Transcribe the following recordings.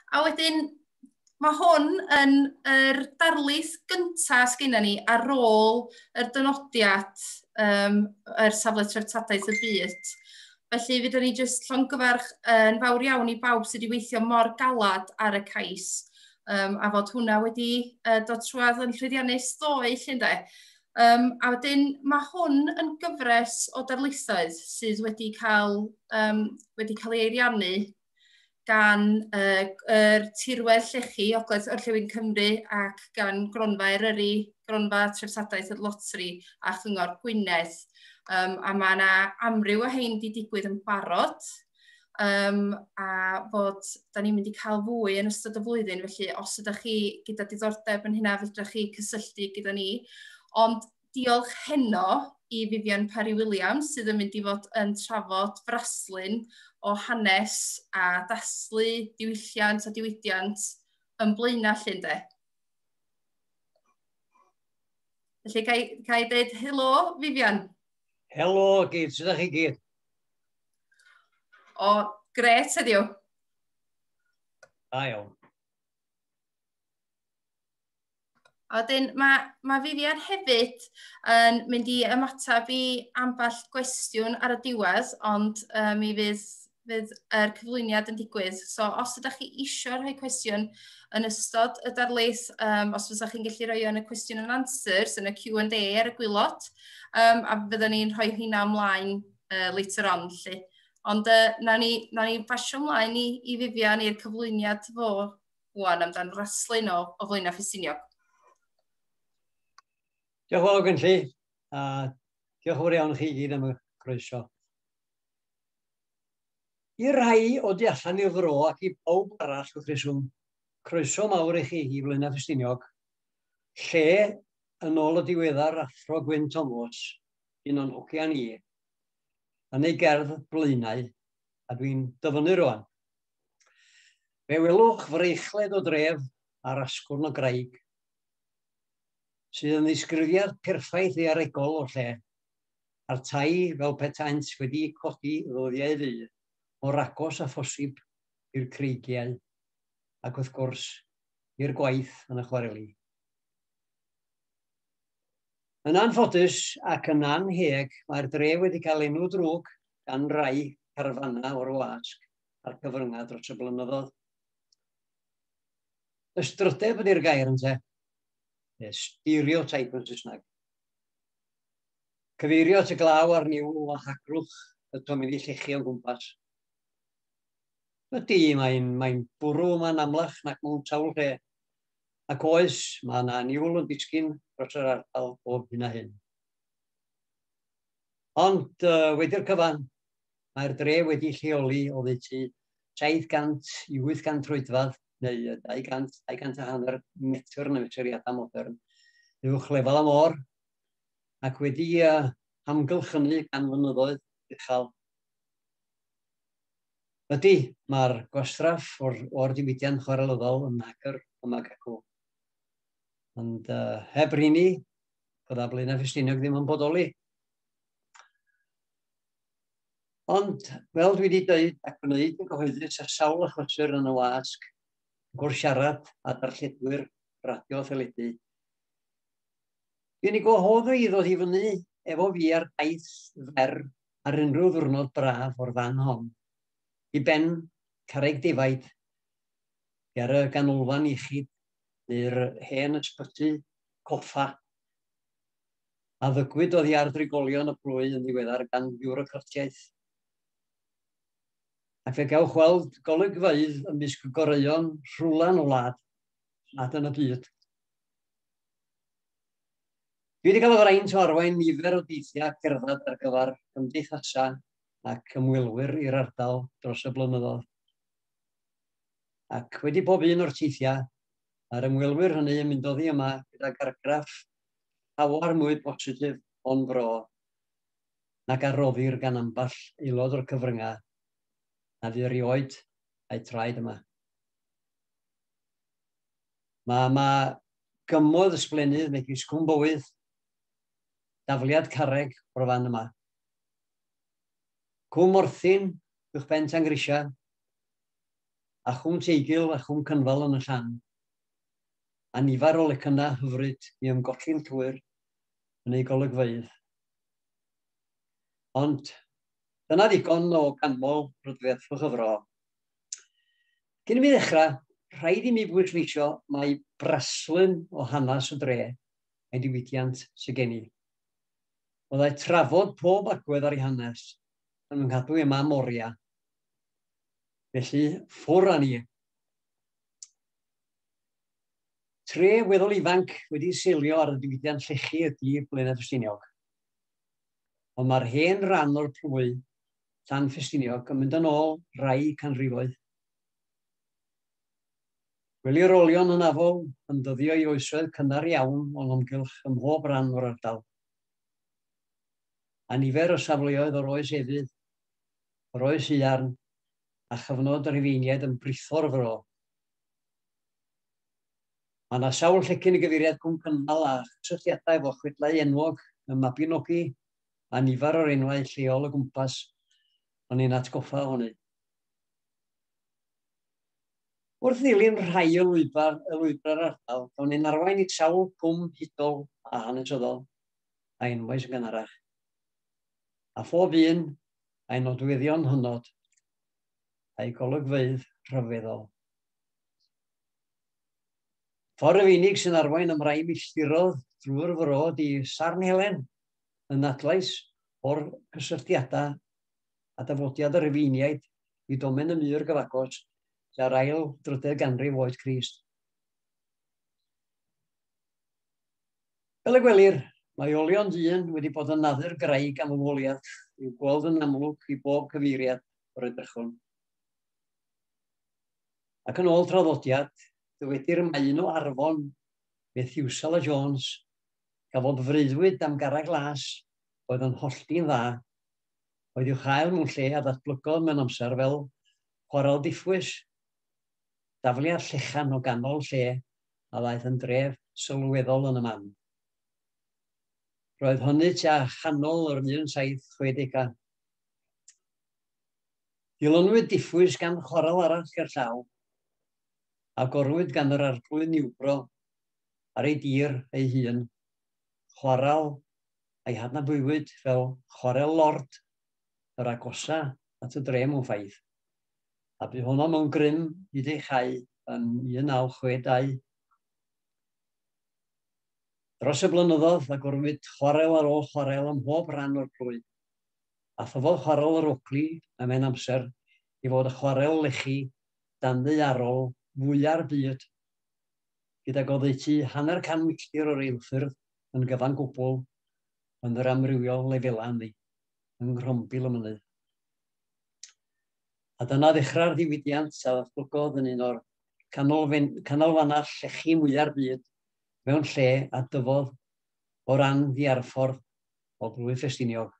A wedyn, mae hwn yn yr darlith gyntaf sgynna ni ar ôl yr dynodiad um, yr safle treftadaeth y byd. Felly, fydden ni jyst llongyfarch yn fawr iawn i bawb sydd wedi weithio mor galad ar y cais um, a fod hwnna wedi uh, dod trwad yn llwyddiannus ddoe, lle ynddo? Um, a wedyn mae hwn yn gyfres o darlithoedd sydd wedi cael, um, wedi cael ei eiriannu gan uh, er tirwedd llechi Ogledd Orllewin Cymru ac gan Gronfa Eryri, Gronfa Trefsadaeth y Lotri a Chyngor Gwynedd. Um, a mae yna amryw o hein wedi digwydd yn barod, um, a bod da ni'n mynd i cael fwy yn ystod y flwyddyn, felly os ydych chi gyda diddordeb yn hynna, fydrych chi cysylltu gyda ni. Ond diolch heno i Vivian Parry Williams sydd yn mynd i fod yn trafod fraslun o hanes a daslu diwylliant a diwydiant yn blaenau lle ynddo. Felly, ga i, ga i dweud helo, Vivian? Helo, gyd, sydd â chi gyd? O, gret heddiw. Da iawn. A wedyn mae, mae Vivian hefyd yn mynd i ymateb i ambell gwestiwn ar y diwedd, ond uh, mi fydd, fydd er cyflwyniad yn digwydd. So os ydych chi eisiau rhoi cwestiwn yn ystod y darlith, um, os fyddwch chi'n gallu rhoi yn y cwestiwn yn answers, yn y Q&A ar y gwylod, um, a byddwn ni'n rhoi hynna ymlaen uh, later on, lle. Ond uh, na ni, na ni basio ymlaen i, i Vivian i'r cyflwyniad fo wan amdan raslun o, o flaenau ffisiniog. Diolch yn fawr gen chi, a diolch yn fawr iawn chi gyd am y croeso. I rai o di allan i'r fro ac i bawb arall wrth reswm, croeso mawr i chi i Flaenau Ffestiniog, lle yn ôl y diweddar Athro Gwyn Tomos, un o'n hogia ni, yn ei gerdd Blaenau, a dwi'n dyfynnu rwan. Fe welwch freichled o dref ar asgwrn o graig, sydd yn ddisgrifiad perffaith ei aregol o'r lle, a'r tai fel petaent wedi codi ddoddiau ddu, o'r agos a phosib i'r creigiau, ac wrth gwrs, i'r gwaith yn y chwareli. Yn anffodus ac yn annheg, mae'r dre wedi cael enw drwg gan rai carfanau o'r wasg a'r cyfryngau dros y blynyddoedd. Ystrydeb ydy'r gair ynte, neu stereotype yn Saesneg. Cyfeirio at y glaw a'r niwl o hagrwch y tomi'n ei llechu o'n gwmpas. Ydy, mae'n mae bwrw yma'n amlach nac mewn sawl lle, Ac oes, mae yna aniwl yn disgyn dros yr ardal bob hyn a hyn. Ond uh, wedi'r cyfan, mae'r dre wedi lleoli o ddeutu 700 i 800 troedfad neu 200, 200 a hanner metr yn y mesuriadau modern uwch lefel am or ac wedi uh, amgylchynu gan fynyddoedd uchel Ydy, mae'r gwastraff o'r, or diwydiant chwarelyddol yn agor am ag acw. Ond uh, heb rini, bydda Blaenau Ffestiniog ddim yn bodoli. Ond, fel dwi wedi dweud ac wneud yn gyhoeddus ar sawl achosur yn y wasg, gwrdd siarad a darlledwyr radio theledu. Dwi'n ei gwahodd i ddod i fyny efo fi ar daith fer ar unrhyw ddiwrnod braf o'r fan hon, i ben carreg defaid, ger y ganolfan iechyd, neu'r hen ysbyty coffa, a ddygwyd oddi ar drigolion y plwy yn ddiweddar gan fiwrocratiaeth. Ac fe gewch weld golygfeydd ymysg goreuon rhwlan o wlad nad yn y byd. Dwi wedi cael y fraint o arwain nifer o deithiau cerdded ar gyfer cymdeithasau ac ymwelwyr i'r ardal dros y blynyddoedd. Ac wedi pob un o'r teithiau, mae'r ymwelwyr hynny yn mynd oddi yma gyda gargraff llawer mwy positif o'n fro nag a roddir gan ambell aelod o'r cyfryngau a fu erioed a'i traed yma. Mae yma gymoedd ysblennydd megis Cwm Bowydd, dafliad carreg o'r fan yma. Cwm Morthyn, uwch ben Tangrisia, a Chwm Teigil a Chwm Cynfal yn y llan. A nifer o lecynnau hyfryd i ymgolli'n llwyr yn ei golygfeydd. Ond dyna ddigon o ganmol rydfedd fy chyfro. Cyn i mi ddechrau, rhaid i mi bwysleisio mai braslun o hanes y dre mae diwydiant sydd gen i. Byddai trafod pob agwedd ar ei hanes yn fy nghadw i am am oriau. Felly, ffwr â ni. Tre weddol ifanc wedi seilio ar y diwydiant llechi ydy Blaenau Ffestiniog. Ond mae'r hen ran o'r plwy Llan Ffestiniog yn mynd yn ôl rai canrifoedd. Gwelir olion hynafol yn dyddio i oesoedd cynnar iawn o'n amgylch ym mhob rhan o'r ardal. A nifer o safleoedd o'r oes efydd, yr oes iarn, a chyfnod yr efeiniaid yn britho'r fro. Mae yna sawl llecyn y gyfeiriad cwm cynnal a chysylltiadau efo chwedlau enwog y Mabinogi a nifer o'r enwau lleol o gwmpas o'n i'n atgoffa o hynny. Wrth ddilyn rhai o lwybr, y lwybrau'r ardal, gawn ni'n arwain i sawl cwm hudol a hanesyddol a enwau sy'n gynharach. A phob un a'i nodweddion hynod a'i golygfeydd rhyfeddol. Ffordd y unig sy'n arwain ymraim i llirodd drwy'r fro di Sarn Helen, yn adlais o'r cysylltiadau a dafodiad y Rhufeiniaid i domen y mur gyfagos tua'r ail drydedd ganrif oed Crist. Fel y gwelir, mae olion dyn wedi bod yn naddu'r graig am ymwoliad i'w gweld yn amlwg i bob cyfeiriad o'r edrychwn. Ac yn ôl traddodiad, dywedir y mae un o arfon Methiwsel a Jones Cafodd freuddwyd am garreg glas oedd yn hollti'n dda, oedd i'w chael mewn lle a ddatblygodd mewn amser fel chwarel diffwys, dafliad llechan o ganol lle a ddaeth yn dref sylweddol yn y man. Roedd hynny tua chanol yr 1760au. Dilynwyd diffwys gan chwarel arall gerllaw, agorwyd gan yr Arglwydd Niwbro ar ei dir ei hun, chwarel a'i hadnabuwyd fel Chwarel Lord yr agosa at y dre mewn ffaith, a bu honno mewn grym hyd ei chau yn 1962. Dros y blynyddoedd, agorwyd chwarel ar ôl chwarel ym mhob rhan o'r plwy, a thyfodd Chwarel yr Ogli ym mhen amser i fod y chwarel lechi danddaearol fwya'r byd gydag oddeutu hanner can milltir o reilffyrdd yn gyfan gwbl yn yr amrywiol lefelau hynny yng nghrombil y mynydd. A dyna ddechrau'r ddiwydiant a ddatblygodd yn un o'r canolfannau llechi mwyaf byd mewn lle a dyfodd o ran ddiarffordd o blwyf Ffestiniog,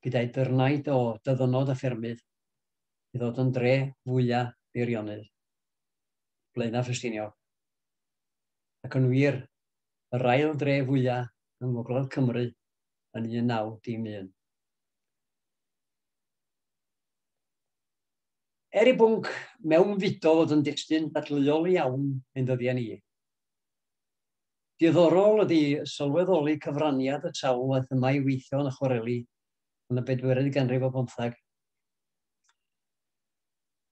gyda'i dyrnaid o dyddynod a ffermydd, i ddod yn dre fwyaf beirionydd. Blaenau Ffestiniog, ac yn wir, yr ail dre fwyaf yng Ngogledd Cymru yn 1911. Er i bwnc mewnfudo fod yn destun dadleuol iawn ein dyddiau ni, diddorol ydy sylweddoli cyfraniad y sawl waith yma i weithio yn y chwareli yn y bedwerydd ganrif o bymtheg.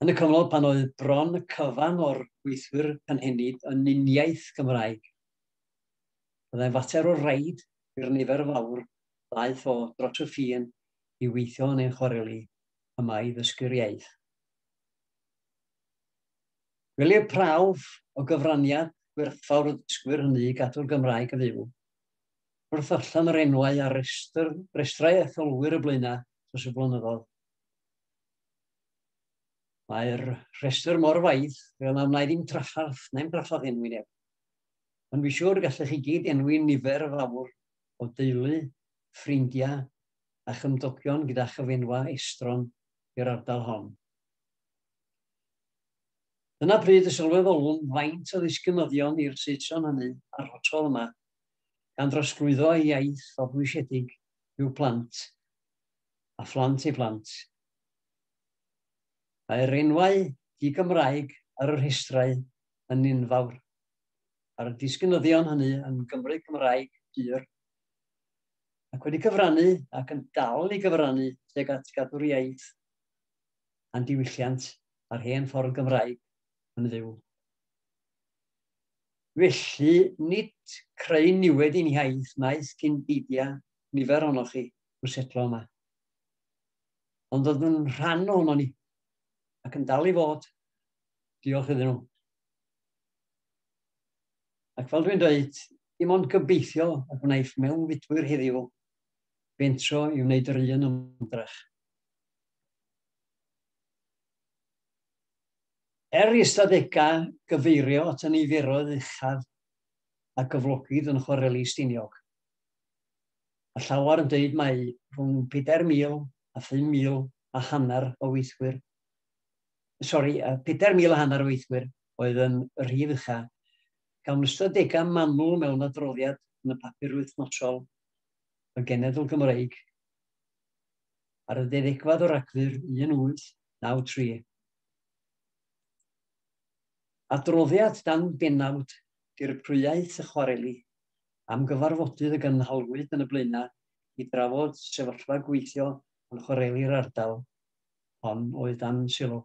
Yn y cyfnod pan oedd bron y cyfan o'r gweithwyr cynhenid yn uniaith Gymraeg, byddai'n fater o raid i'r nifer fawr ddaeth o dros y ffin i weithio yn ein chwareli yma i ddysgu'r iaith. Gwelir prawf o gyfraniad gwerthfawr y dysgwyr hynny i gadw'r Gymraeg yn fyw. Wrth allan yr enwau ar restr, restrau etholwyr y blaenau dros y blynyddoedd, Mae'r rhestr mor waith, fel na wna i ddim traffarth, na i'm draffarth enwi neb. Ond fi siwr gallech chi gyd enwi nifer fawr o deulu, ffrindiau a chymdogion gyda chyfenwa estron i'r ardal hon. Dyna pryd y sylweddolwn faint o ddisgynyddion i'r Saeson hynny a'r hotel yma, gan drosglwyddo ei iaith o bwysedig i'w plant a phlant ei phlant Mae'r enwau di-Gymraeg ar y rhestrau yn enfawr, ar y disgynyddion hynny yn Gymry Cymraeg pur, ac wedi cyfrannu ac yn dal i gyfrannu tuag at gadw'r iaith a'n diwylliant a'r hen ffordd Gymraeg yn fyw. Felly, nid creu niwed i'n hiaith wnaeth cyn beidio nifer ohonoch chi i'w setlo yma. ond oedd yn rhan o'n o'n i, ac yn dal i fod. Diolch iddyn nhw. Ac fel dwi'n dweud, dim ond gobeithio y gwnaeth mewn fudwyr heddiw bentro i wneud yr un ymdrech. Er i ystadegau gyfeirio at y niferoedd uchaf a gyflogid yn chwareli Stiniog, Mae llawer yn dweud mai rhwng 4,000 a 5,000 a hanner o weithwyr, sori, 4,000 a hanner o weithwyr oedd yn y rhif ucha. Gawn ystadegau manwl mewn adroddiad yn y papur wythnosol y Genedl Gymreig ar y ddedegfad o Ragfyr 1893. Adroddiad dan benawd dirprwyaeth y chwareli am gyfarfodydd y gynhalwyd yn y Blaenau i drafod sefyllfa gweithio yn chwareli'r ardal hon oedd dan sylw.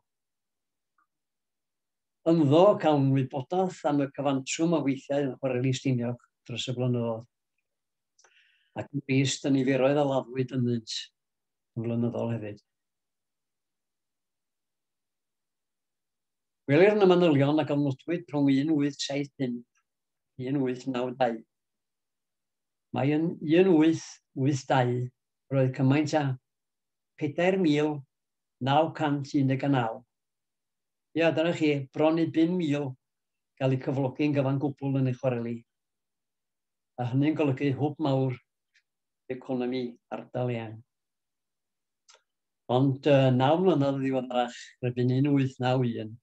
Ynddo, cawn wybodaeth am y cyfantrwm o weithiau yn chwareli Stiniog dros y blynyddoedd, ac yn brist y niferoedd a laddwyd ynddynt yn flynyddol hefyd. Gwelir yn y manylion a gofnodwyd rhwng 1875 1892. Mae yn 1882 roedd cymaint â 4,919. Ia, dyna chi, bron i 5,000 gael eu cyflogi'n gyfan gwbl yn ei chwareli. A hynny'n golygu hwb mawr economi ardal eang. Ond uh, naw mlynedd ddiweddarach, rydyn 1891,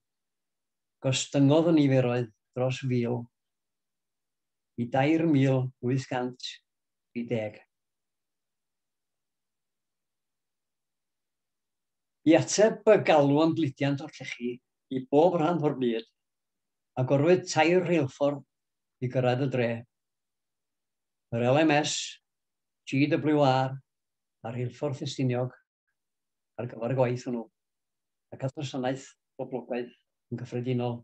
gostyngodd y niferoedd dros 1,000 i 2,830. I ateb y galw am gludiant o'r llechi i bob rhan o'r byd, agorwyd tair rheilffordd i gyrraedd y dre, yr LMS, GWR a Rheilffordd Ffestiniog, ar gyfer y gwaith hwnnw, ac at wasanaeth boblogaidd yn gyffredinol.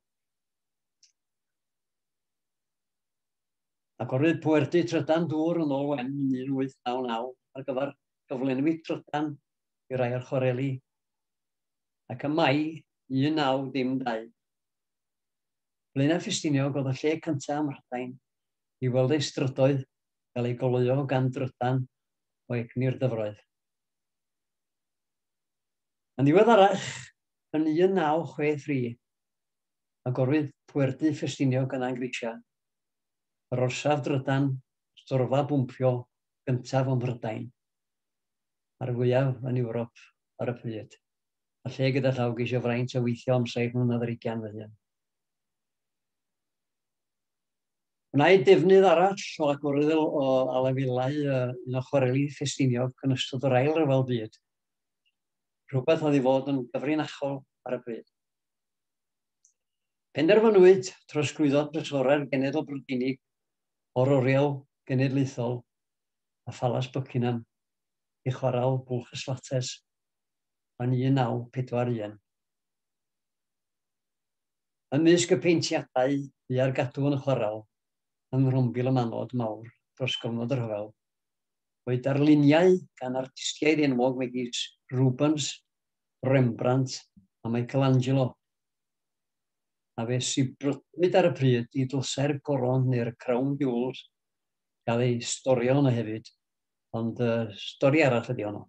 Agorwyd pwerdy trydan dŵr yn ôl wen yn 1899 ar gyfer cyflenwi trydan i rai o'r chwareli. Ac ym Mai 1912, Blaenau Ffestiniog oedd y lle cyntaf ym Mhrydain i weld ei strydoedd gael ei goleuo gan drydan o egni'r dyfroedd. Yn ddiweddarach, yn 1963, agorwyd Pwerdy Ffestiniog yn Angrisia, yr orsaf drydan storfa bwmpio gyntaf ym Mhrydain, a'r fwyaf yn Ewrop ar y pryd, a lle gyda llaw geisio fraint o weithio am saith mlynedd ar ugain fy hun. Gwnaed defnydd arall o agorad o alafelau un o chwareli Ffestiniog yn ystod yr Ail Ryfel Byd, rhywbeth oedd i fod yn gyfrinachol ar y pryd. Penderfynwyd trosglwyddo trysorau'r Genedl Brydeinig o'r Oriel Genedlaethol a Phalas Buckingham i chwarael Bwlch y Slates yn 1941. Ymysg y paentiadau fu Ar Gadw yn Chwarel yng Nghrombil y Manod Mawr dros gyfnod y rhyfel, oedd darluniau gan artistiaid enwog megis Rubens, Rembrandt a Michelangelo, a fe sibrwdwyd ar y pryd i Dlysau'r Goron neu'r Crown Jewels gael ei storio yno hefyd, ond stori arall ydy honno.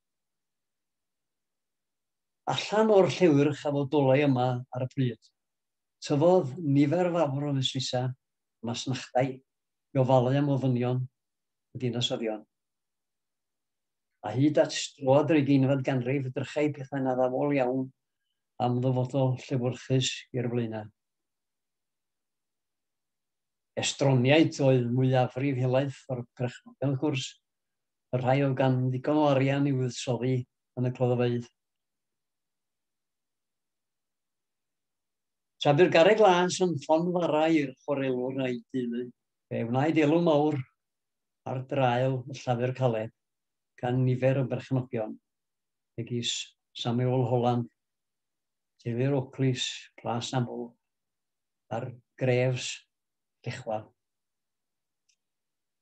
Allan o'r llewyrch a fodolai yma ar y pryd, tyfodd nifer fawr o fusnesau a masnachdai i ofalu am ofynion y dinasyddion. A hyd at droad yr ugeinfed ganrif edrychai pethau'n addawol iawn am ddyfodol llewyrchus i'r Blaenau. Estroniaid oedd mwyafrif helaeth o'r perchnogion wrth gwrs, y rhai oedd gan ddigon o arian i fuddsoddi yn y cloddfeydd. Tra bu'r garreg las yn llonfarau i'r chwarelwr a'i deulu, fe wnaed elw mawr ar draul y llafur caled gan nifer o berchnogion, megis Samuel Holland, teulu'r Oakleys, Plas Aml, a'r Greves, Llechwel.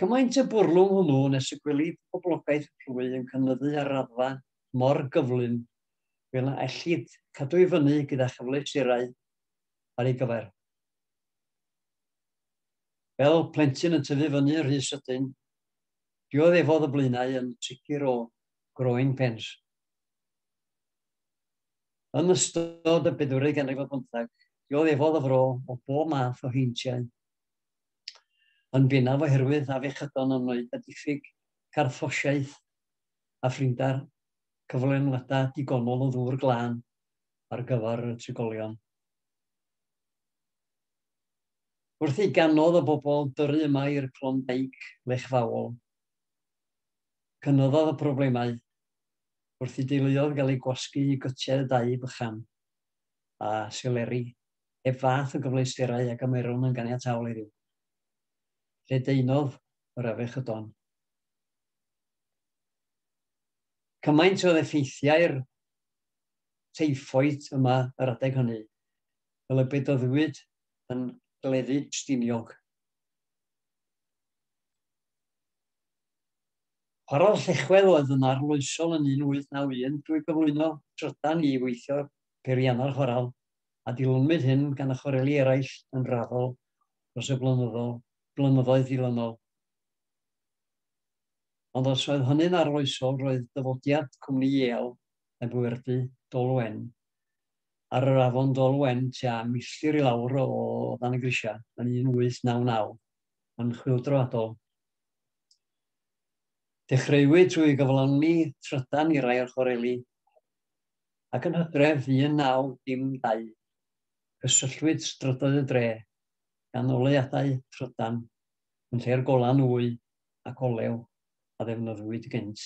Cymaint y bwrlwm hwnnw nes y gwelid poblogaeth y plwy yn cynyddu ar raddfa mor gyflym fel na ellid cadw i fyny gyda chyfleusterau ar ei gyfer. Fel plentyn yn tyfu fyny yn rhy sydyn, dioddefodd y blaenau yn sicr o groen pens. Yn ystod y bedwrig ganrif ar bymtheg, dioddefodd y fro o bob math o heintiau. yn bennaf oherwydd afiechydon annoedd a diffyg carthffosiaeth a phrinder cyflenwadau digonol o ddŵr glân ar gyfer y trigolion. Wrth i ganodd o bobl dyrru yma i'r Klondike lechfaol, cynyddodd y problemau wrth i deuluodd gael eu gwasgu i gytiau dau bychan a seleri. heb fath o gyfleusterau ag y maerwn yn ganiataol heddiw. Lledaenodd yr afechydon. Cymaint oedd effeithiau'r teiffwyd yma yr adeg hynny, fel y bedoddwyd yn gleddu stiniog. Chwarael Llechwedd oedd yn arloesol yn 1891 drwy gyflwyno trydan i weithio peiriannau'r chwarael a dilynwyd hyn gan y chwareli eraill yn raddol dros y blynyddoedd dilynol. Ond os oedd hynny'n arloesol, roedd dyfodiad cwmni Yale heb werdy Dol Wen ar yr afon Dol Wen tua milltir i lawr o dan y grisiau yn 1899 yn chwyldroadol. Dechreuwyd trwy gyflawni trydan i rai o'r chwareli ac yn Hydref 1912, cysylltwyd strydoedd y dre, ganoliadau trydan, yn lle'r golau nwy ac olew a ddefnyddiwyd gynt.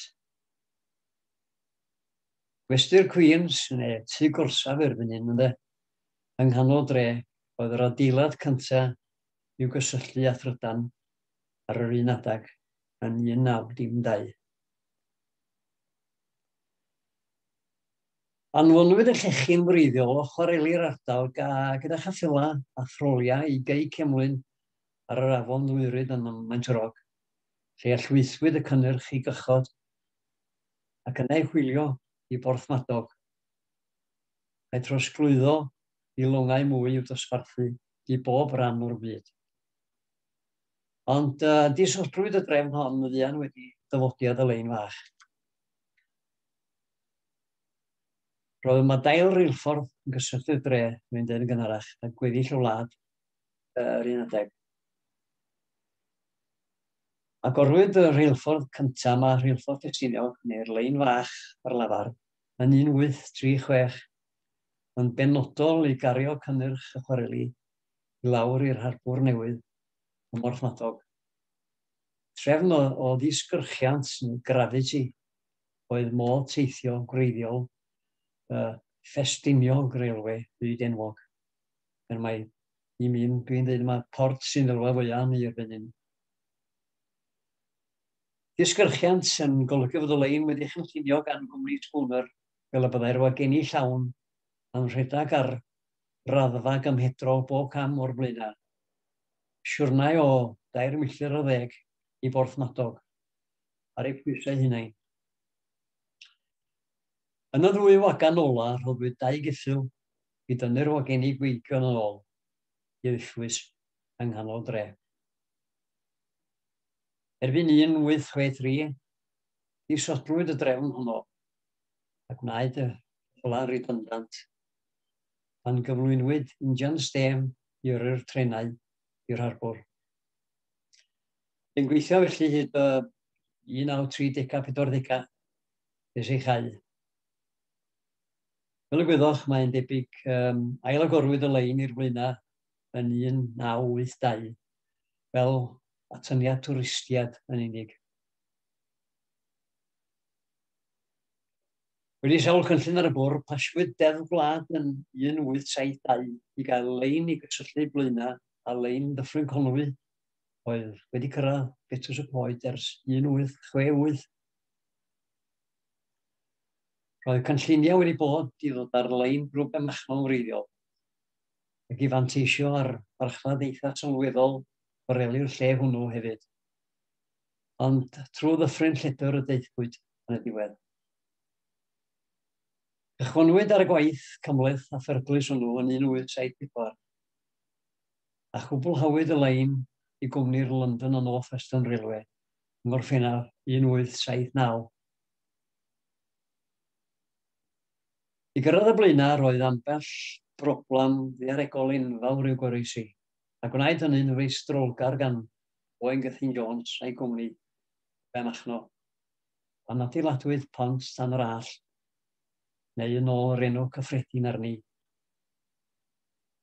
Gwesty'r Queens, neu tŷ gorsaf erbyn hyn, ynde, yng nghanol dre, oedd yr adeilad cyntaf i'w gysylltu â thrydan ar yr un adeg yn 1912. Anfonwyd y llechi'n wreiddiol o chwareli'r ardal gyda cheffylau a throliau i Gei Cemlyn ar yr afon Ddwyryd yn Maint y Rog, lle allweithwyd y cynnyrch i gychod ac yna ei hwylio i Borthmadog, a'i trosglwyddo i longau mwy i'w dosbarthu i bob rhan o'r byd. Ond disodlwyd y drefn hon yn fuan wedi dyfodiad y lein fach. Roedd yma dail reilffordd yn gysylltu'r dre, rwy'n dweud yn gynharach, a gweddill y wlad yr un adeg. Agorwyd y rheilffordd cyntaf yma, Rheilffordd Ffestiniog, neu'r Lein Fach ar lafar, yn 1836, yn benodol i gario cynnyrch y chwareli i lawr i'r harbwr newydd ym Mhorthmadog. Trefn o ddisgyrchiant neu gravity oedd modd teithio gwreiddiol y ffestiniog railwê byd enwog. Er mai i mi, dwi'n dweud yma, port sy'n ddylfa fwyaf ni erbyn hyn. Disgyrchiant yn golygu fod y lein wedi chynllunio gan gwmni Spooner fel y byddai'r wageni llawn yn rhedeg ar raddfa gymhedrol bob cam o'r blaenau. Siwrnai o dair milltir ar ddeg i Borthmadog. ar eu pwysau hunain. Yn y ddwy wagan ola rhoddwyd dau geffyl i dynnu'r wagenni gweigion yn ôl i'r uchwys yng nghanol dre. Erbyn 1863, disodlwyd y drefn honno a gwnaed y hola redundant pan gyflwynwyd injan stêm i yrru'r trenau i'r harbwr. Yn gweithio felly hyd y 1930-40 nes ei chau. Fel y gwyddoch, mae'n debyg um, ailagorwyd y lein i'r flaena yn 1982 fel atyniad twristiad yn unig. Wedi sawl cynllun ar y bwrdd, paswyd Deddf Gwlad yn 1872 i gael lein i gysylltu Blaenau a lein Ddyffryn Conwy oedd wedi cyrraedd Betws y Coed ers 1868. Roedd cynlluniau wedi bod i ddod ar lein grŵp y machnol wreiddiol ac i fanteisio ar farchnad eitha sylweddol boreli'r lle hwnnw hefyd. Ond trwy ddyffryn lledr y deithpwyd yn y diwedd. Cychwynwyd ar y gwaith cymhleth a pherglus hwnnw yn 1874. a chwblhawyd y lein i gwmni'r London and North Western Railway yng Ngorffennaf 1879. I gyrraedd y blaenau roedd ambell broblem ddaearegol enfawr i'w goroesi, a gwnaed hynny'n feistrolgar gan Owain Gethin Jones a'i gwmni Ben Achno, pan adeiladwyd Pont Tan yr Allt, neu yn ôl yr enw cyffredin arni,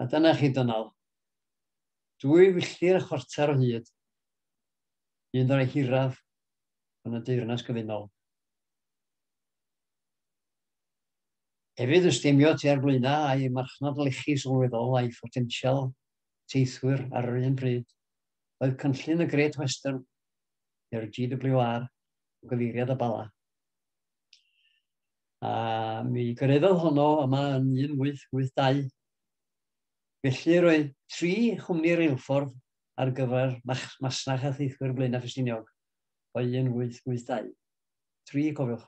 A dyna chi, Dynal. Dwy filltir a chwarter o hyd. Un o'r hiraf yn y deyrnas gyfunol. Hefyd yn stemio tua'r blaenau a'i marchnad lechi sylweddol a'i photensial teithwyr ar yr un pryd, oedd cynllun y Great Western, neu'r GWR, o gyfeiriad y Bala. A mi gyreddodd honno yma yn 1882. Felly roedd tri chwmni reilffordd ar gyfer masnach a theithwyr Blaenau Ffestiniog o 1882. Tri, cofiwch.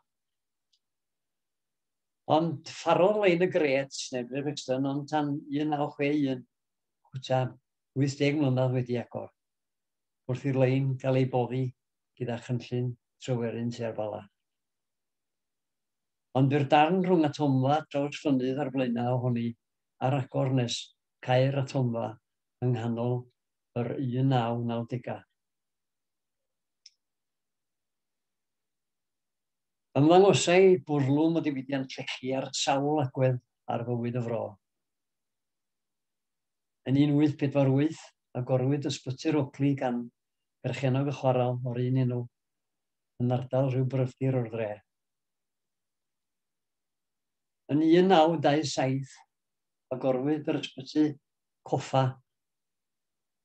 Ond ffarodd lein y gret, neu Great Brixton, ond tan 1961, cwta 80 mlynedd wedi agor, wrth i'r lein gael ei boddi gyda chynllun trywerin tua'r Bala. Ond bu'r darn rhwng atomfa drawsfynydd a'r flaenau ohoni ar agor nes cau'r atomfa yng nghanol yr 1990au. Ymddangosai bwrlwm o ddiwydiant llechi ar sawl agwedd ar fywyd y fro. Yn 1848, agorwyd Ysbyty'r Oakley gan berchennog y chwarel o'r un enw. yn ardal rhyw bryfdir o'r dre. Yn 1927, agorwyd yr ysbyty coffa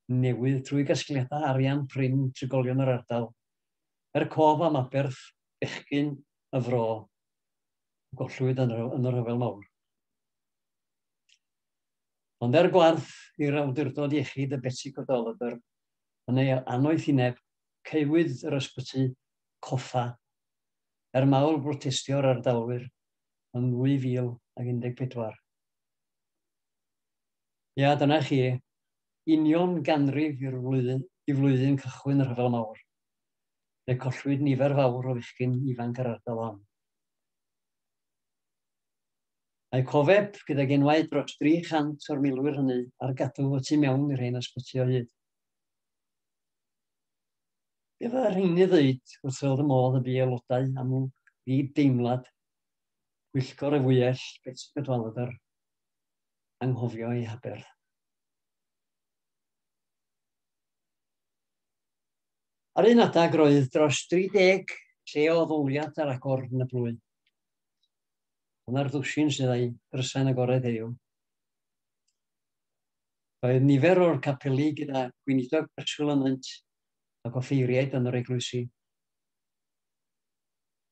newydd trwy gasgliadau arian prin trigolion yr ardal, er cof am aberth bechgyn y fro gollwyd yn y rhyfel mawr. Ond er gwarth i'r awdurdod iechyd y Betsi Godolodr yn ei anoethineb caewyd yr ysbyty coffa er mawl brotestio'r ardalwyr yn 2014. Ia, dyna chi, union ganrif i'r flwyddyn, i flwyddyn cychwyn y rhyfel mawr. Fe collwyd nifer fawr o fechgyn ifanc yr ardal hon. Mae cofeb gyda genwaid dros 300 o'r milwyr hynny ar gadw y tu mewn i'r hen ysbyty o hyd. Be fydda rhain i ddeud wrth fel y modd y bu aelodau am fi deimlad pwyllgor y fwyell beth sy'n gydwalod ar anghofio ei haberth. Ar un adeg roedd dros 30 lle o ddoliad ar agor yn y blwy. Yna'r ddwsin sydd ei drysain agored heddiw. Roedd nifer o'r capeli gyda gweinidog preswyl ynynt, ac offeiriaid yn yr eglwysi.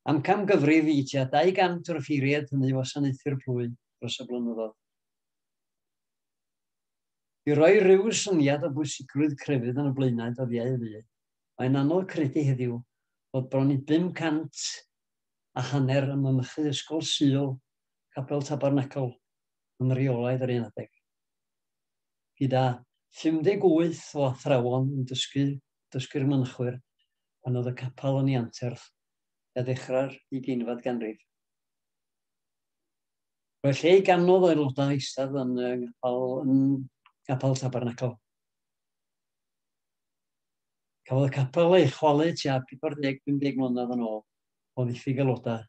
Am camgyfrif i tua 200 o'r offeiriaid hynny wasanaethu'r plwy dros y blynyddoedd. I roi rhyw syniad o bwysigrwydd crefydd yn y blaenau dyddiau fu, mae'n anodd credu heddiw bod bron i 500 a hanner ym mynychu Ysgol Sul, Capel Tabernacl, yn reolaidd yr un adeg. gyda 58 o athrawon yn dysgu dysgu'r mynchwyr pan oedd y capel yn ei anterth a ddechrau'r ugeinfed ganrif. Roedd lle i ganodd o aelodau eistedd yn y ngapel, yn gapel Tabernacle. Cafodd y capel ei chwalu tua 40-50 mlynedd yn ôl o ddiffyg aelodau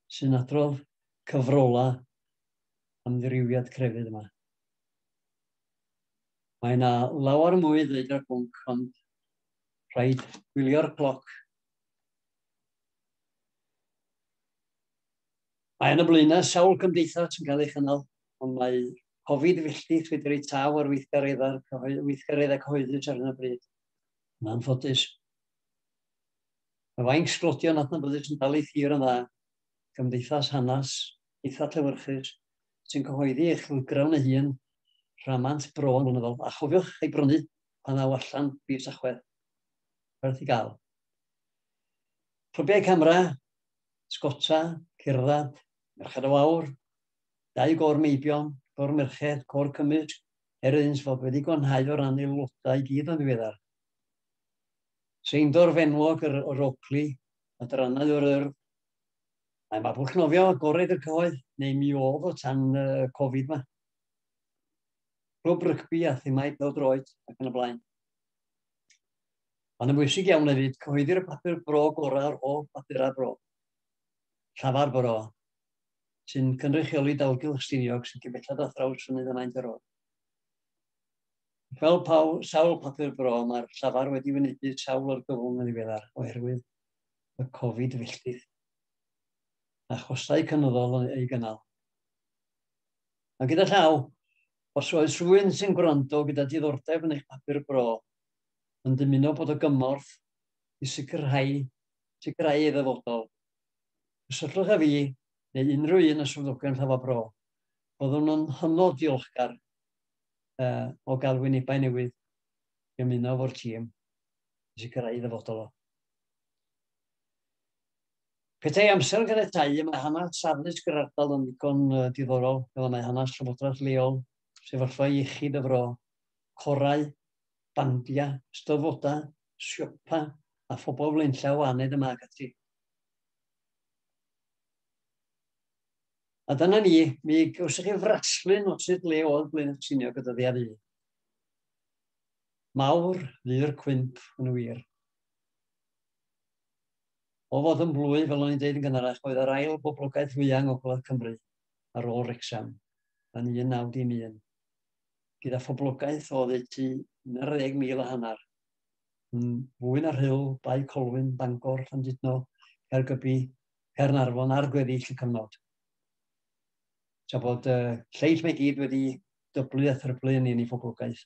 sy'n adrodd cyfrolau amddiriwiad crefydd yma. Mae yna lawer mwy ddweud ar bwnc, ond rhaid gwylio'r cloc. Mae yna blaenau sawl cymdeithas yn cael ei chynnal, ond mae Covid felly wedi ei taw ar weithgareddau cyhoeddus ar hyn o bryd. Yn anffodus. Mae fainc sglodion adnabyddus yn dal ei thir yn dda, gymdeithas hanes eitha llewyrchus sy'n cyhoeddi ei chlwygrawn ei hun, rhamant bro yn ynyddol, a chofiwch ei brynu pan ddaw allan fis Tachwedd. Werth i gael. Clybiau camera, sgota, cerdded, merched o awr, dau gor meibion, gor merched, cor cymysg, er iddynt fod wedi gwanhau o ran aelodau i gyd yn ddiweddar. Seindor fenwog yr, yr Oakley, adrannau o'r Urdd. Mae Mabwlch Nofio agored i'r cyhoedd, neu mi oedd o tan y Covid yma. Clwb rygbi a themau pel droed ac yn y blaen. Ond yn bwysig iawn hefyd, cyhoeddir y papur bro gorau o'r holl bapurau bro. Llafar bro, sy'n cynrychioli dalgylch Stiniog sy'n cyn belled â thraws fynydd y maint ar ôl. Fel paw, sawl papur bro, mae'r llafar wedi wynebu sawl o'r gyfwng yn ddiweddar oherwydd y Covid filltir a chostau cynyddol yn ei gynnal. Mae gyda llaw, os oes rhywun sy'n gwrando gyda diddordeb yn eich papur bro, yn dymuno bod o gymorth i sicrhau, sicrhau ei ddyfodol. Cysylltwch â fi neu unrhyw un y swyddogion llafar bro. Byddwn yn hynod diolchgar uh, o gael wynebau newydd i ymuno fo'r tîm i sicrhau ei ddyfodol o. Petai amser yn caniatau, y mae hanes saflus gyda'r ardal yn ddigon uh, diddorol, fel y mae hanes llywodraeth leol, sefyllfa iechyd y fro, corau, bandiau, styfodau, siopa a phobl flaenllaw aned yma ac ati. A dyna ni, mi gawsoch chi fraslun o sut le oedd Blaen y Tsinio gyda ddi ar un. Mawr fu'r cwymp yn wir. O fod yn blwy, fel o'n i'n dweud yn gynharach, oedd yr ail boblogaeth fwyaf yng Ngogledd Cymru ar ôl Rexham yn 1911, gyda phoblogaeth o ddeutu 11,000 a hanner, yn fwy na rhyl, Bae Colwyn, Bangor, Llandudno, Caergybi, Caernarfon ar gweddill y cyfnod. Tra bod y lleill mae gyd wedi dyblu a thryblu yn un i phoblogaeth,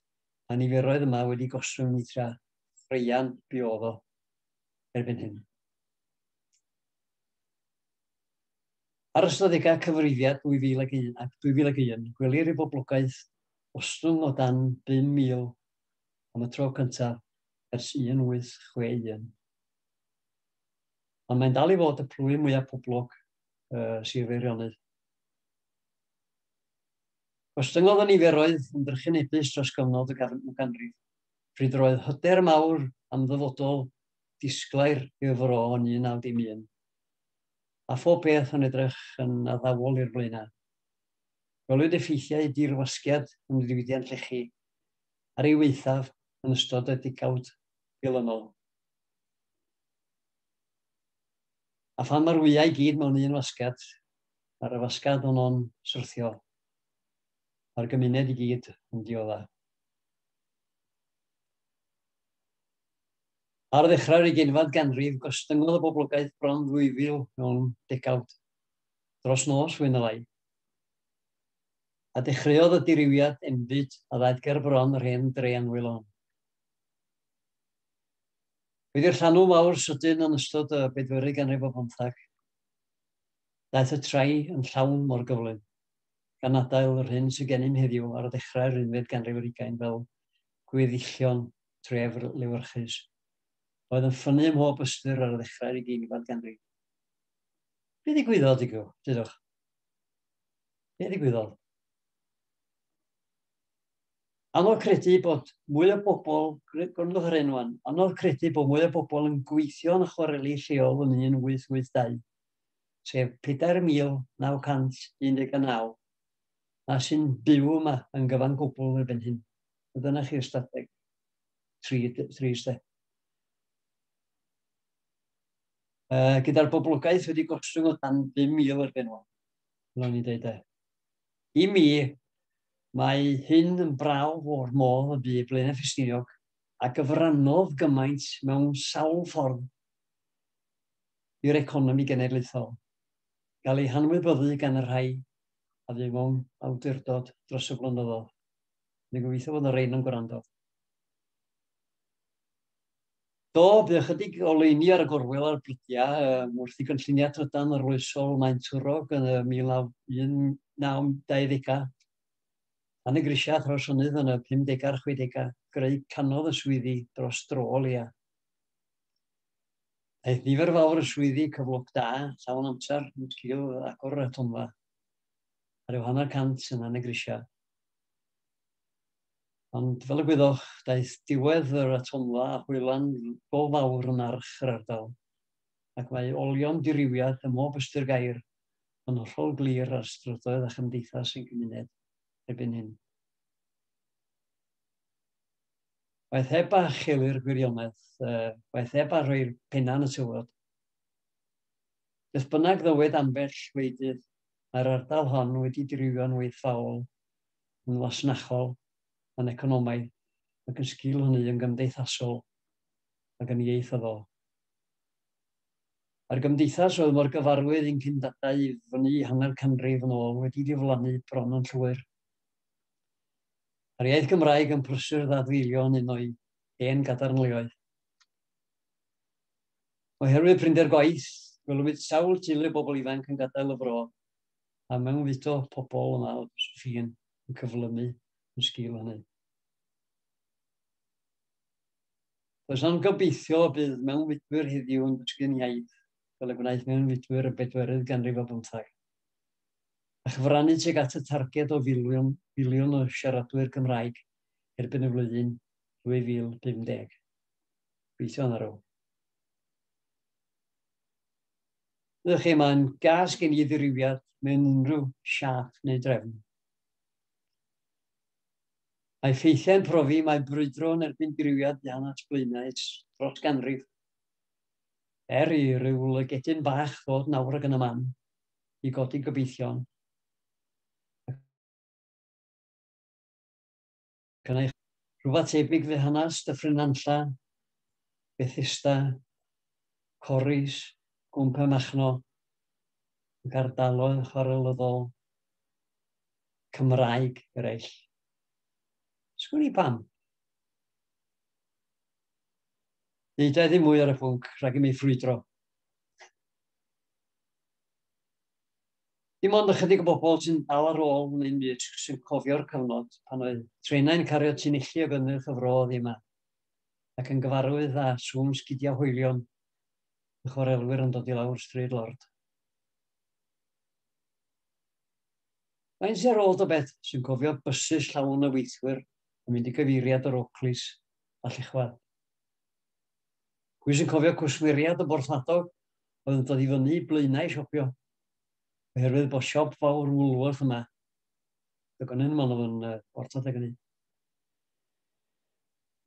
a niferoedd yma wedi goswyn i tra chreian biodd o erbyn hyn. Ar ystadegau cyfrifiad 2001 ac 2001, gwelir i boblogaeth ostwng o dan 5,000 am y tro cyntaf ers 1861. ond mae'n dal i fod y plwyf mwyaf poblog uh, Sir Feirionnydd. Gostyngodd y niferoedd yn drychinebus dros gyfnod y ganrif, pryd yr oedd hyder mawr am ddyfodol disglair i'r fro yn 1911, a phob peth yn edrych yn addawol i'r blaenau. Gwelwyd effeithiau dirwasgiad yn y diwydiant llechi ar ei weithaf yn ystod y digawd dilynol. A phan mae'r wyau i gyd mewn un wasgad, mae'r wasgad honno'n syrthio. Mae'r gymuned i gyd yn diodda. Ar ddechrau'r ugeinfad ganrif, gostyngodd y boblogaeth bron 2,000 mewn degawd, dros nos fwy na lai. A dechreuodd y dirywiad enbyd a ddaeth ger bron yr hen dre anwyl hon. Bydd i'r llanw mawr sydyn yn ystod y bedwerydd ganrif o bymtheg. Daeth y trai yn llawn mor gyflym, gan adael yr hyn sy'n gennym heddiw ar ddechrau'r unfed ganrif ar ugain fel gweddillion tref lewyrchus oedd yn ffynnu ym mhob ystyr ar ddechrau'r ugeinfed ganrif. Be ddigwyddodd, digw, dydwch? Be ddigwyddodd? Anodd credu bod mwy o bobl, gwrandwch ar hyn wan, anodd credu bod mwy o bobl yn gweithio yn y chwareli lleol yn 1882, sef 4,919, na sy'n byw yma yn gyfan gwbl erbyn hyn. A dyna chi ystadeg. Tri, tri ystadeg. Uh, gyda'r boblogaeth wedi gostwng o dan 5,000 erbyn hwn. Fel o'n i'n dweud e. I mi, mae hyn yn brawf o'r modd y bu Blaenau Ffestiniog a gyfrannodd gymaint mewn sawl ffordd i'r economi genedlaethol, gael ei hanwybyddu gan y rhai a fu mewn awdurdod dros y blynyddoedd. Dwi'n gobeithio fod y rhain yn gwrando. Do, bydd ychydig o leini ar y gorwel a'r brydiau um, wrth i gynlluniau trydan arloesol Maen Twrog yn y 1920au. Pan y grisiau thrawsynnydd yn y 50au a'r 60au, greu canodd y swyddi dros dro leia. Aeth nifer fawr y swyddi cyflog da, llawn amser, yn sgil agor y tonfa. Ar yw hanner cant yn y grisiau. Ond fel y gwyddoch, daeth diwedd yr atomfa a hwylan go fawr yn arch yr ardal, ac mae olion dirywiad ym mhob ystyr gair yn hollol glir ar strydoedd a chymdeithas ein cymuned erbyn hyn. Waeth heb a cheli'r gwirionedd, uh, waeth heb a rhoi'r penna yn y tywod. Beth bynnag ddywed ambell wleidydd, mae'r ardal hon wedi dirywio'n weithfaol yn fasnachol, yn economaidd, ac yn sgil hynny yn gymdeithasol ac yn ieithyddol. Mae'r gymdeithas oedd mor gyfarwydd i'n cyndadau i fyny hanner canrif yn ôl wedi diflannu bron yn llwyr. Mae'r iaith Gymraeg yn prysur ddadfeilio yn un o'i hen gadarnleoedd. Oherwydd prinder gwaith, gwelwyd sawl teulu bobl ifanc yn gadael y fro a mewnfudo pobl yma o Josephine yn cyflymu yn sgil hynny. Does am gobeithio bydd mewnfudwyr heddiw yn dysgu'n iaith fel y gwnaeth mewnfudwyr y bedwerydd ganrif o bymthag a chyfrannu tuag at y targed o filiwn, filiwn o siaradwyr Cymraeg erbyn y flwyddyn 2050. Gweithio yna rôl. Ydych chi mae'n gas gen i ddirywiad mewn unrhyw siap neu drefn. Mae ffeithiau'n profi mae brwydro yn erbyn diriwiad dan at blaenau dros ganrif. Er i ryw lygedyn bach ddod nawr ag yn y man i godi gobeithion. Gan eich rhywbeth tebyg fe hanas Dyffryn Nantlla, Bethesda, Corris, Gwmpa Machno, ac ardaloedd chwarelyddol Cymraeg eraill. Sgwn i pam. Nid oedd ddim mwy ar y pwnc rhag i mi ffrwydro. Dim ond ychydig o bobl sy'n dal ar ôl yn ein byd sy'n cofio'r cyfnod pan oedd trenau'n cario tunilli o gynnyrch y fro oddi yma, ac yn gyfarwydd â sŵn sgidiau hoelion y chwarelwyr yn dod i lawr Stryd Lord. Mae'n ser ôl o beth sy'n cofio bysus llawn y weithwyr yn mynd i gyfeiriad yr Oakleys a Llechwad. Pwy sy'n cofio cwsmeriad y borthladog oedd yn dod i fyny i blaenau siopio Oherwydd bod siop fawr Woolworth yma. Dwi'n gwneud yn ymwneud yn uh, bortod ag hynny.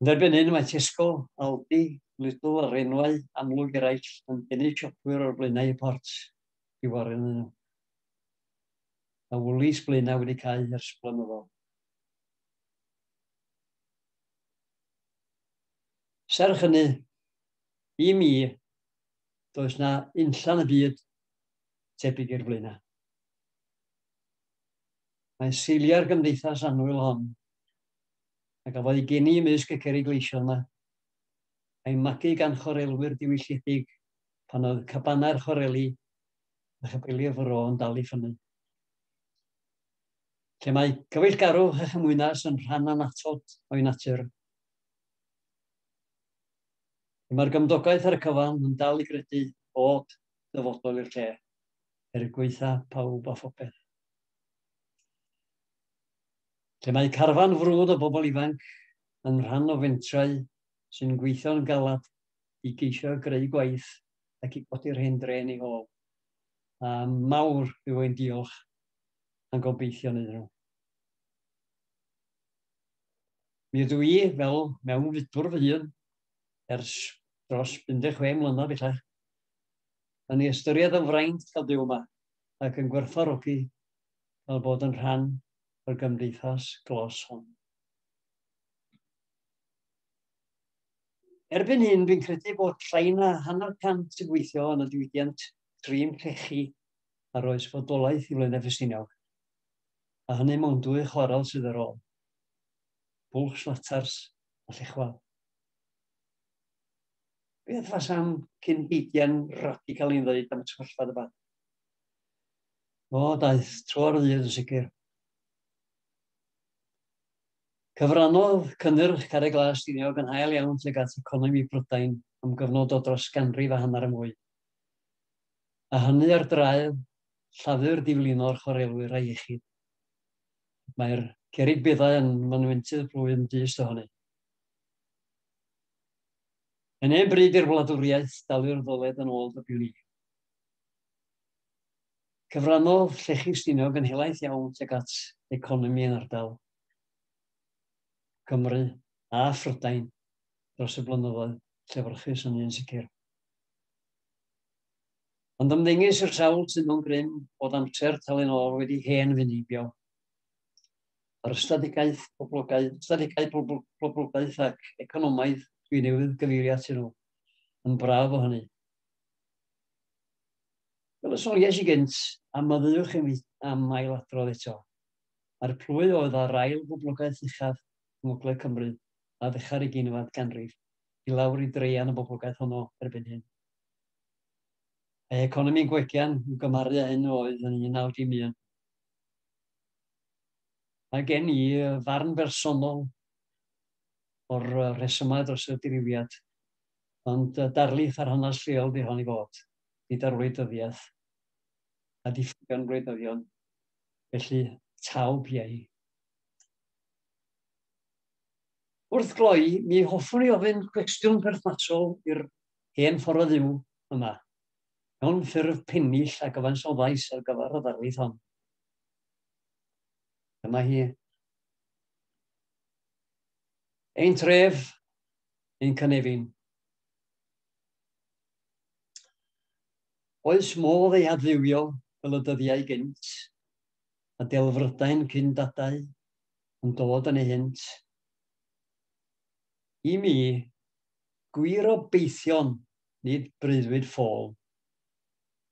Yn erbyn hyn mae Tesco, Aldi, Lidl a Renwau amlwg eraill yn denu siopwyr o'r blaenau y port i wario yn nhw. Mae Woolies blaenau wedi cael ers blynyddoedd. Serch hynny, i mi, does na unllan y byd tebyg i'r flaenau. Mae'n seiliau'r gymdeithas annwyl hon, a gafodd ei geni ymysg y cerig leisio yma, a'i magu gan chorelwyr diwylliedig pan oedd cabanau'r choreli a chapeli'r fro yn dal i ffynnu. Lle mae cyfeillgarw a chymwynas yn rhan anatod o'i natur, Mae'r gymdogaeth ar y cyfan yn dal i gredu bod ddyfodol i'r lle. Er gwaetha pawb a phopeth. Lle mae carfan frwd o bobl ifanc yn rhan o fentrau sy'n gweithio'n galad i geisio greu gwaith ac i godi'r hen drên i hôl. A mawr yw ein diolch a'n gobeithion iddyn nhw. Mi ydw i, fel mewn fydwr fy hun, ers dros 56 mlynedd bellach, Mae'n ei ystyried yn fraint cael byw yma ac yn gwerthfawrogi cael bod yn rhan o'r gymdeithas glos hon. Erbyn hyn, fi'n credu bod llai na hanner cant sy'n gweithio yn y diwydiant trin llechi ar oes fodolaeth i Flaenau Ffestiniog, a hynny mewn dwy chwarel sydd ar ôl, Bwlch Slatars a Llechwel. Beth fasam cyn-heidiau'n radical i'n ddweud am y trollfad yma? O, daeth tro'r ddydd yn sicr. Cyfrannodd cynnyrch Carreg Glas Stiniog yn hael iawn tuag at economi Brydain am gyfnod o dros ganrif a hanner y mwy. A hynny ar draed llafur diflino'r chwarelwyr a iechyd. Mae'r cerig beddau yn manwentydd plwyf yn dyst ohoni. Yn hen bryd i'r wladwriaeth dalu'r ddyled yn ôl dybiwn i. Cyfrannodd llechi Stiniog yn helaeth iawn tuag at economi yn ardal Cymru a Phrydain dros y blynyddoedd llefyrchus yn un sicr. Ond ymddengys i'r sawl sy'n mewn grym bod amser talu'n ôl wedi hen fynibio. ar strategaeth poblogaeth, strategaeth pobl, poblogaeth ac economaidd. Dwi newydd gyfeirio at nhw. Yn braf o hynny. Fel y soniais i gynt, am myddywch yn am ail adrodd eto. Mae'r plwy oedd ar ail boblogaeth uchaf yng Ngogledd Cymru a ddechrau'r uginfad ganrif i lawr i dreian y boblogaeth honno erbyn hyn. Ei economi'n gwegian i'w gymaru â hyn oedd yn 1911. Mae gen i farn bersonol o'r rhesymau dros y dirywiad, ond darlith ar hanes lleol di hon i fod, gyda'r wleidyddiaeth a diffygion gwleidyddion, felly taw piau. Wrth gloi, mi hoffwn i ofyn cwestiwn perthnasol i'r hen ffordd o fyw yma, mewn ffurf pennill a gyfansoddais ar gyfer y ddarlith hon. Dyma hi. Ein tref, ein cynefin. Oes modd ei adfywio fel y dyddiau gynt, a delfrydau'n cyn dadau yn dod yn ei hynt. I mi, gwir o beithion nid breuddwyd ffôl,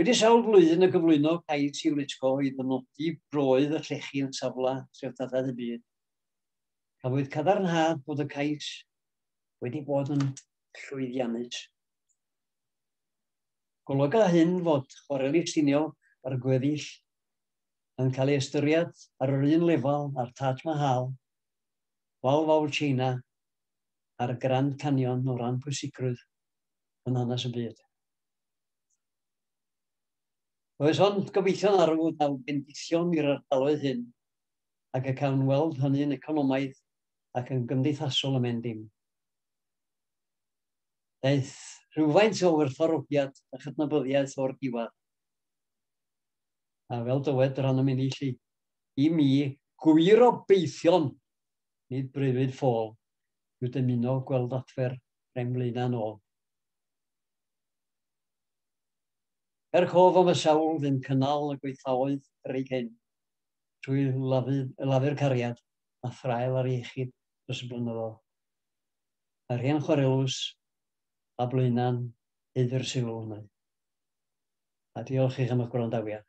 Wedi sawl blwyddyn o gyflwyno cais i UNESCO i ddynodi broydd y llechi yn safle treftadaeth y byd, cafwyd cadarnhad bod y cais wedi bod yn llwyddiannus. Golyga hyn fod chwareli Stiniog a'r gweddill yn cael ei ystyried ar yr un lefel â'r Taj Mahal, Wal Fawr China a'r Grand Canyon o ran pwysigrwydd yn hanes y byd. Oes ond gobeithio'n arw y daw bendithion i'r ardaloedd hyn, ac y cawn weld hynny'n economaidd ac yn gymdeithasol ym Mhendim. Daeth rhywfaint o werthfawrogiad a chydnabyddiaeth o'r diwadd. A fel dywed yr anam inni lli, i mi, gwir o beithion, nid breuddwyd ffôl, yw dymuno gweld adfer rem flaenau nôl. Er cof am y sawl fu'n cynnal y gweithfaoedd bryd hyn, trwy lafu'r cariad a thraul ar iechyd dros y blynyddoedd, mae'r hen chwarelws a Blaenau'n hyd i'r sylw ynddo. A diolch i chi am eich gwrandawiad.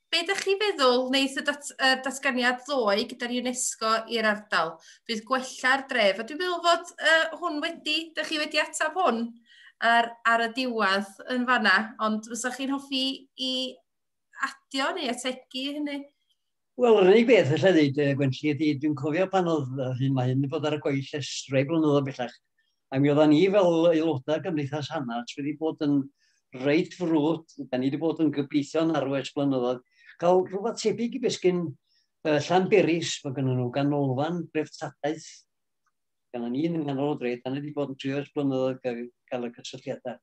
Be ydych chi'n feddwl wneud y dat, uh, datganiad ddoe gyda'r UNESCO i'r ardal? Bydd gwella'r dref. A dwi'n meddwl fod uh, hwn wedi, ydych chi wedi ateb hwn ar, ar y diwedd yn fanna, ond fysa chi'n hoffi i adio neu ategu hynny? Wel, yr unig beth allai ddweud, uh, Gwenlli, ydy dwi'n cofio pan oedd hyn mae hyn bod ar y gweill ers rhai blynyddoedd bellach, A mi oeddan ni fel aelodau Gymdeithas Hanarts wedi bod yn reit frwd, da ni wedi bod yn gobeithio yn arw ers blynyddoedd, cael rhywbeth tebyg i besgyn uh, Llanberis, mae gynnu nhw ganolfan dreftadaeth, gan ni yn nghanol o dre, da ni wedi bod yn trio ers blynyddoedd gael, gael y cysylltiadau.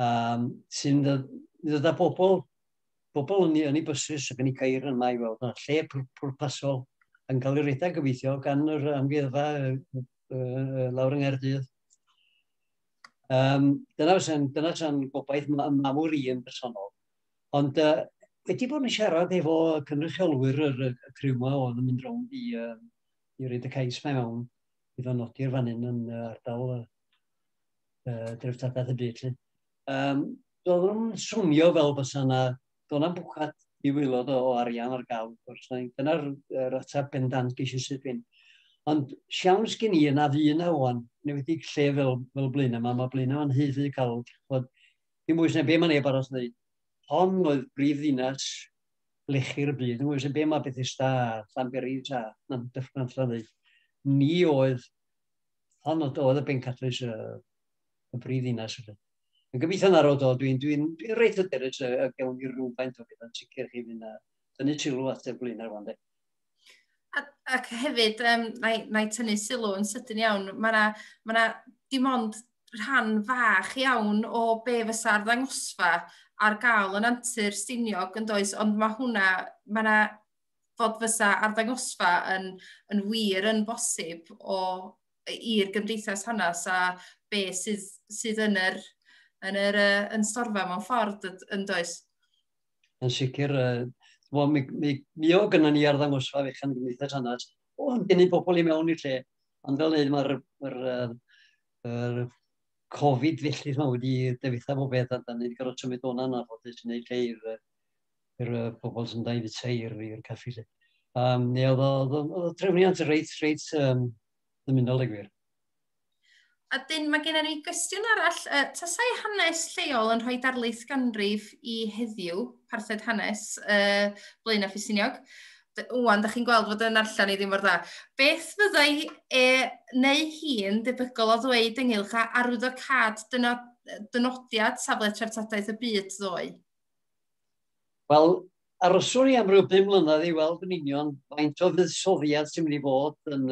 Um, sy'n ddod â bobl, bobl yn ei, yn ei bysys ac yn ei cair yma i weld, lle pwrpasol, yn cael ei redeg gobeithio gan yr amgueddfa uh, lawr yng Nghaerdydd. Um, dyna fysa'n dyna fysa'n gobaith mawr i yn bersonol. Ond uh, wedi bod yn siarad efo cynrychiolwyr yr, y criw yma oedd yn mynd rownd i, uh, i reid y cais mae mewn i fy nodi'r fan hyn yn uh, ardal uh, uh, dreftadaeth y byd. Um, doedd nhw'n swnio fel bys yna do'n am bwcad i wylod o arian ar gael, wrth gwrs, dyna'r er ateb bendant ges i sydd fin. Ond siawns gen i yna fu yna o'n, neu wedi lle fel, fel blin yma, mae blin yma'n hyfu cael, bod, dim mwy sy'n be mae neb arall wneud. Hon oedd brif ddinas lechu'r byd, mwy sy'n be mae Bethesda, Llanberis a na'n dyffryn allan ddeud. Ni oedd, hon oedd y bencadlys y, y brif ddinas. Yn gobeithio na rod o, dwi'n dwi, dwi reit hyderus y, y gewn ni rhywfaint o bethau'n sicr chi fynd a tynnu sylw at y blaenau rwan de. Ac hefyd, um, na, i, na i tynnu sylw yn sydyn iawn, mae yna ma, na, dim ond rhan fach iawn o be fysa'r ddangosfa ar gael yn antur stiniog yn does, ond mae hwnna, mae yna fod fysa arddangosfa yn, yn wir yn bosib o, i'r gymdeithas hanes a be sydd, sydd yn yr, yn yr uh, yn storfa mewn ffordd yn does? Yn sicr, uh, Wel, mi, mi, mi o gyda ni arddangosfa fechan gymdeithas hanes, o'n denu pobl i mewn i'r lle. Ond fel dweud, mae'r ma er, er Covid felly yma wedi defitha bob beth a da ni wedi gorfod symud o'na na bod yn gwneud lle i'r yr uh, pobl sy'n dau fyd teir fi i'r caffi lle. Um, neu oedd o, o, o trefniant reit, reit um, ddymunol y gwir. A dyn, mae gennym ni gwestiwn arall. Uh, tasai hanes lleol yn rhoi darlith ganrif i heddiw, parthed hanes, uh, Blaen a Ffisiniog, Wan, da chi'n gweld fod yn allan i ddim mor dda. Beth fyddai e neu hi'n debygol o ddweud ynghylch a arwyddo cad dynodiad safle treftadaeth y byd ddoe? Wel, aroswn i am ryw bum mlynedd i weld yn union faint o fuddsoddiad sy'n mynd i fod yn...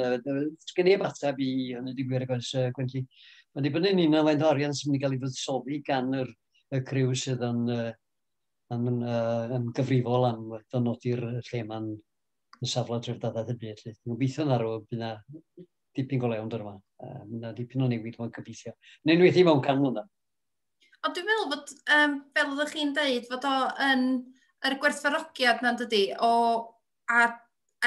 Sgen i efateb i hynny, dwi'n gwir, agos, Gwenlli. Mae'n dibynnu yn union faint o arian sy'n mynd i gael ei fuddsoddi gan yr, y criw sydd yn, yn, yn gyfrifol am ddynodi'r lle mae'n y safle dreftadaeth y byd. Dwi'n gobeithio na rwy'n bydd na dipyn go lewn dyr yma. Mae yna dipyn o newid mae'n gobeithio. Yn enwedig mewn can mlynedd. Ond dwi'n meddwl bod, um, fel oeddech chi'n dweud, fod o yn yr gwerthfarogiad na'n dydy, o a,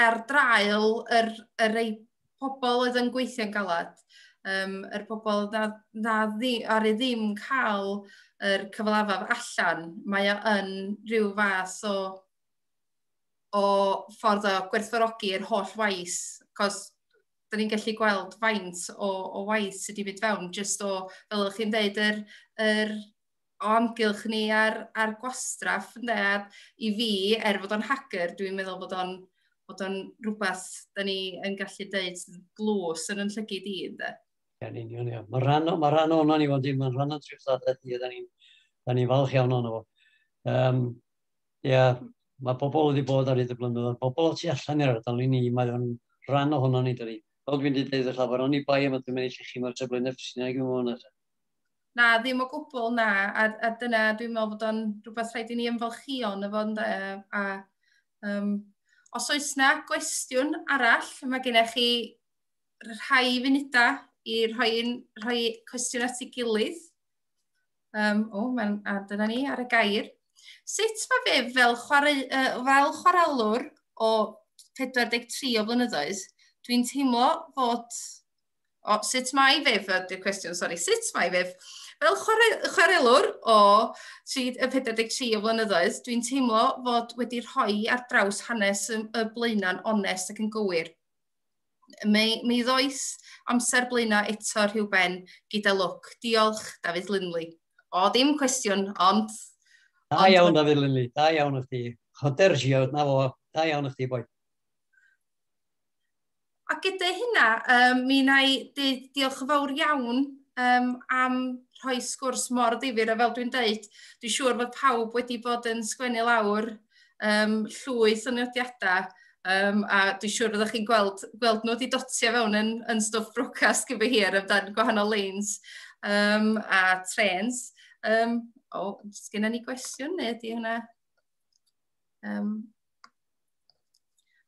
ar draul yr, yr ei pobl oedd yn gweithio'n galad, um, yr pobl na, na ddi, ar ei ddim cael yr cyfalafaf allan, mae o yn rhyw fath o, o ffordd o gwerthfarogi'r holl waith, cos da ni'n gallu gweld faint o, o waith sydd wedi mynd fewn, jyst o, fel ydych chi'n dweud, yr, yr o amgylch ni ar, ar gwastraff, ynddo, a i fi, er fod o'n hager, dwi'n meddwl bod o'n bod o'n rhywbeth da ni yn gallu dweud glws yn yn llygyd i, ynddo. Yn union, ia. Mae rhan, ma rhan o'na ni, ond mae'n rhan o'n trwy'r ddadau ni, da ni'n ni falch iawn o'na fo. Um, Ia, mae pobl wedi bod ar hyd y blynyddoedd, pobl o tu allan i'r ardal i ni, mae o'n rhan ohono ni dydi. Fel dwi'n dweud wrth lawer oni bai am y dwi'n mynd i llechu mae'r Treflynau Ffestiniaig yn fawr nesaf. Na, ddim o gwbl, na, a, a dyna dwi'n meddwl bod o'n rhywbeth rhaid i ni ymfalchio yn y fod ynde, a um, os oes na gwestiwn arall, mae gennych chi rhai funudau i rhoi, rhoi cwestiwn at ei gilydd. Um, o, mae'n ad yna ni ar y gair. Sut mae fe fel, chwarae, uh, fel chwarelwr o 43 o flynyddoedd, dwi'n teimlo fod... O, sut mae fe, ydy'r cwestiwn, sori, sut mae fe? Fel chwarae, chwarelwr o 43 o flynyddoedd, dwi'n teimlo fod wedi rhoi ar draws hanes y, y blaenau'n onest ac yn gywir. Mi, mi ddoes amser blaenau eto rhywben gyda lwc. Diolch, Dafydd Linley. O, ddim cwestiwn, ond... Da ond... iawn, Dafydd Linley. Da iawn o chdi. Hoder siawd, na fo. Da iawn o chdi, boi. A gyda hynna, um, mi na i diolch yn fawr iawn um, am rhoi sgwrs mor ddifur, a fel dwi'n dweud, dwi'n siŵr fod pawb wedi bod yn sgwennu lawr um, llwyth o nodiadau Um, a dwi'n siŵr fyddwch chi'n gweld, gweld nhw wedi dotio fewn yn, yn stwff brocast gyfer hir amdan gwahanol lanes um, a trens. Um, o, oh, sgynna ni gwestiwn neu ydy hwnna? Um,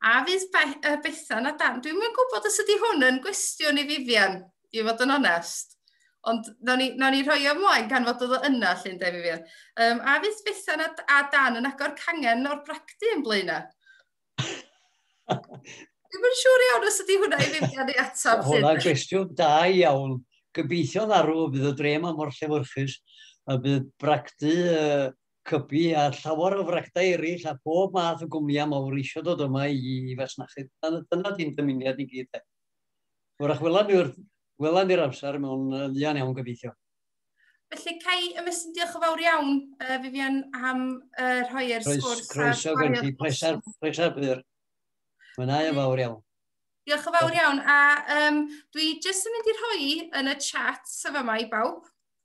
A fydd Be uh, Bethan a Dan, dwi'n mynd gwybod os ydy hwn yn gwestiwn i Vivian, i fod yn onest. Ond na ni, na ni rhoi ymlaen gan fod oedd yna, llun de Vivian. Um, a fydd Bethan a, a Dan yn agor cangen o'r bragdy yn blaen yna? Dwi'n mynd siŵr iawn os ydy hwnna i Vivian ei atab. Hwnna'n gwestiwn da iawn. Gobeithio'n arw bydd y drem am o'r llefyrchus a bydd bragdy uh, cybi a llawer o frechtai eraill a phob math o gwmnïau mawr eisiau dod yma i fasnachu. Dyna di'n dymuniad i gyd. Wrach, wela ni wrth wela ni'r amser mewn fuan iawn gobeithio. Felly, Cai, ymestyn diolch o fawr iawn, uh, Vivian, am uh, rhoi'r sgwrs. Croeso gen ti, pleser, pleser byr. Mwynhau yn fawr iawn. Diolch o fawr iawn, a um, dwi jyst yn mynd i rhoi yn y chat sef yma i bawb,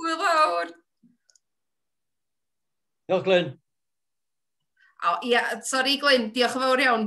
Hwyl fawr. Diolch, Glyn. O, ia, sori, Glyn, diolch yn fawr iawn.